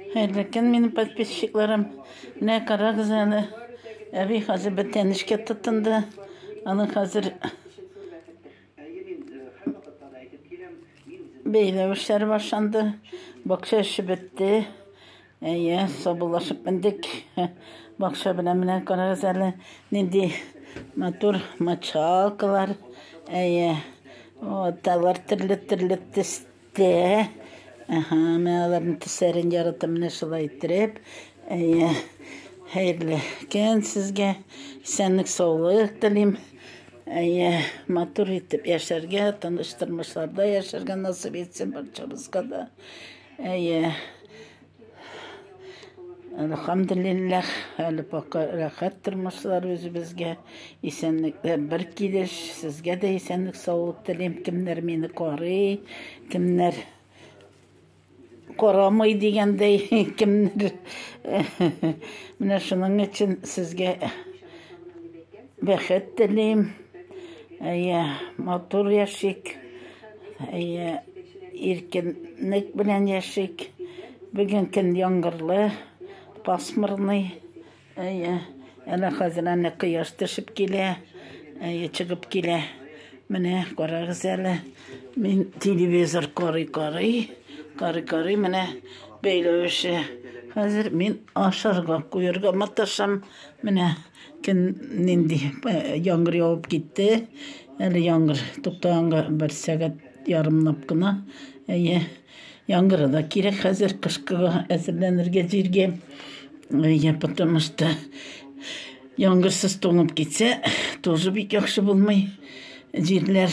Хәерле көн, минем подписчикларым. Менә карагыз әле. Әби хәзер бер тәнешкә тотынды. Аны хәзер бәйләү эшләре башланды. Бакча эше бетте. Әйе, сабылашып мендек. Бакча белән менә карагыз әле. Нинди матур мочалкалар. Әйе. Вот, алар төрле-төрле Тә. Әһә, мен аларның төсләрен яратам, менә шулай иттереп. Әйе. Хәерле көн сезгә. Исәнлек, саулык телим. Әйе, матур итеп яшәргә, тыныч тормышларда яшәргә насыйп итсен барчабызга да. Әйе. Әлхәмделилләһ, әле пока рәхәт тормышлар үзебезгә. Исәнлекләр бер килеш. Сезгә дә исәнлек саулык телим. Кемнәр мине карый, кемнәр карамый дигәндәй, кемнәр менә шуның өчен сезгә бәхет телим. Әйе, матур яшик. Әйе, иркенлек белән яшик. Бүген көн яңгырлы, пасмурный. Әйе, әнә хәзер әнә кояш төшеп килә. Әйе, чыгып килә. Менә карагыз әле. Мин телевизор карый карый, карый карый менә бәйләвеше. Хәзер мин ашарга куярга маташам. Менә Көн нинди яңгыр явып китте. Әле яңгыр туктаганга бер сәгать ярымлап кына. Әйе, яңгыры да кирәк хәзер кышкыга әзерләнергә җиргә. Әйе, потому что яңгырсыз туңып китсә, тоже бик яхшы булмый. Җирләр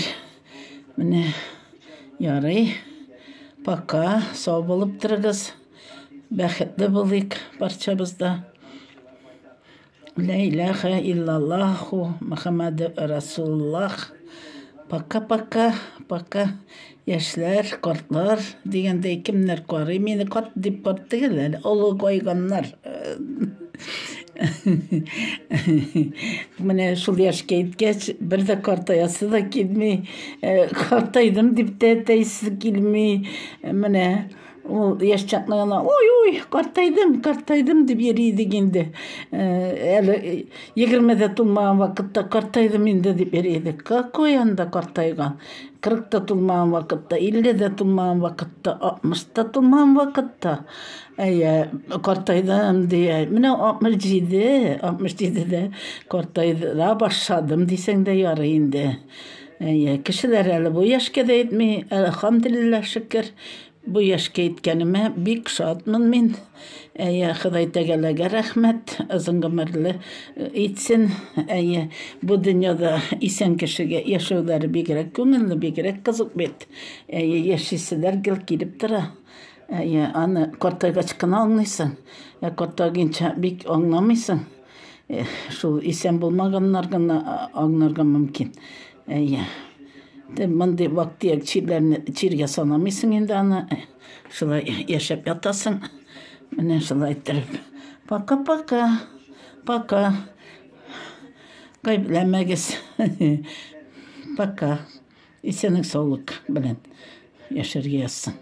менә ярый. Пока сау булып торыгыз. Бәхетле булыйк барчабыз да. Лә иләхә иллаллаху Мөхәммәде Расулуллах. Пока, пока, пока. Яшьләр, картлар дигәндәй кемнәр карый мине карт дип карт түгел әле, олы гайганнар. Менә шул яшькә иткәч, бер дә картаясы да килми, картайдым дип тә әйтәсе килми. Менә Ул яшь чакны гына ой-ой, картайдым, картайдым дип йөри идек инде. Әле 20-дә тулмаган вакытта картайдым инде дип йөри идек. Какой анда картайган? 40-та тулмаган вакытта, 50-дә тулмаган вакытта, 60-та тулмаган вакытта. Әйе, картайдым дия. Менә 67, 67-дә картайдыра башладым дисәң дә ярый инде. Әйе, кешеләр әле бу яшькә дә итми, әлхамдулиллаһ шөкер. Бу яшькә иткәнемә бик шатмын мин. Әйе, Ходай Тәгаләгә рәхмәт, озын гомерле э, итсен. Әйе, бу дөньяда исән кешегә яшәүләре бигрәк күңелле, бигрәк кызык бит. Әйе, яшиселәр гел килеп тора. Әйе, аны картайгач кына аңлыйсың. Ә картайганча бик аңламыйсың. Шул исән булмаганнар гына аңнарга мөмкин. Әйе. Дә мондый вак-төяк чирләрне чиргә санамыйсың инде аны. Шулай яшәп ятасың. Менә шулай иттереп. Пока-пока. Пока. Гайбләмәгез. Пока. Исәнлек саулык белән яшәргә язсын.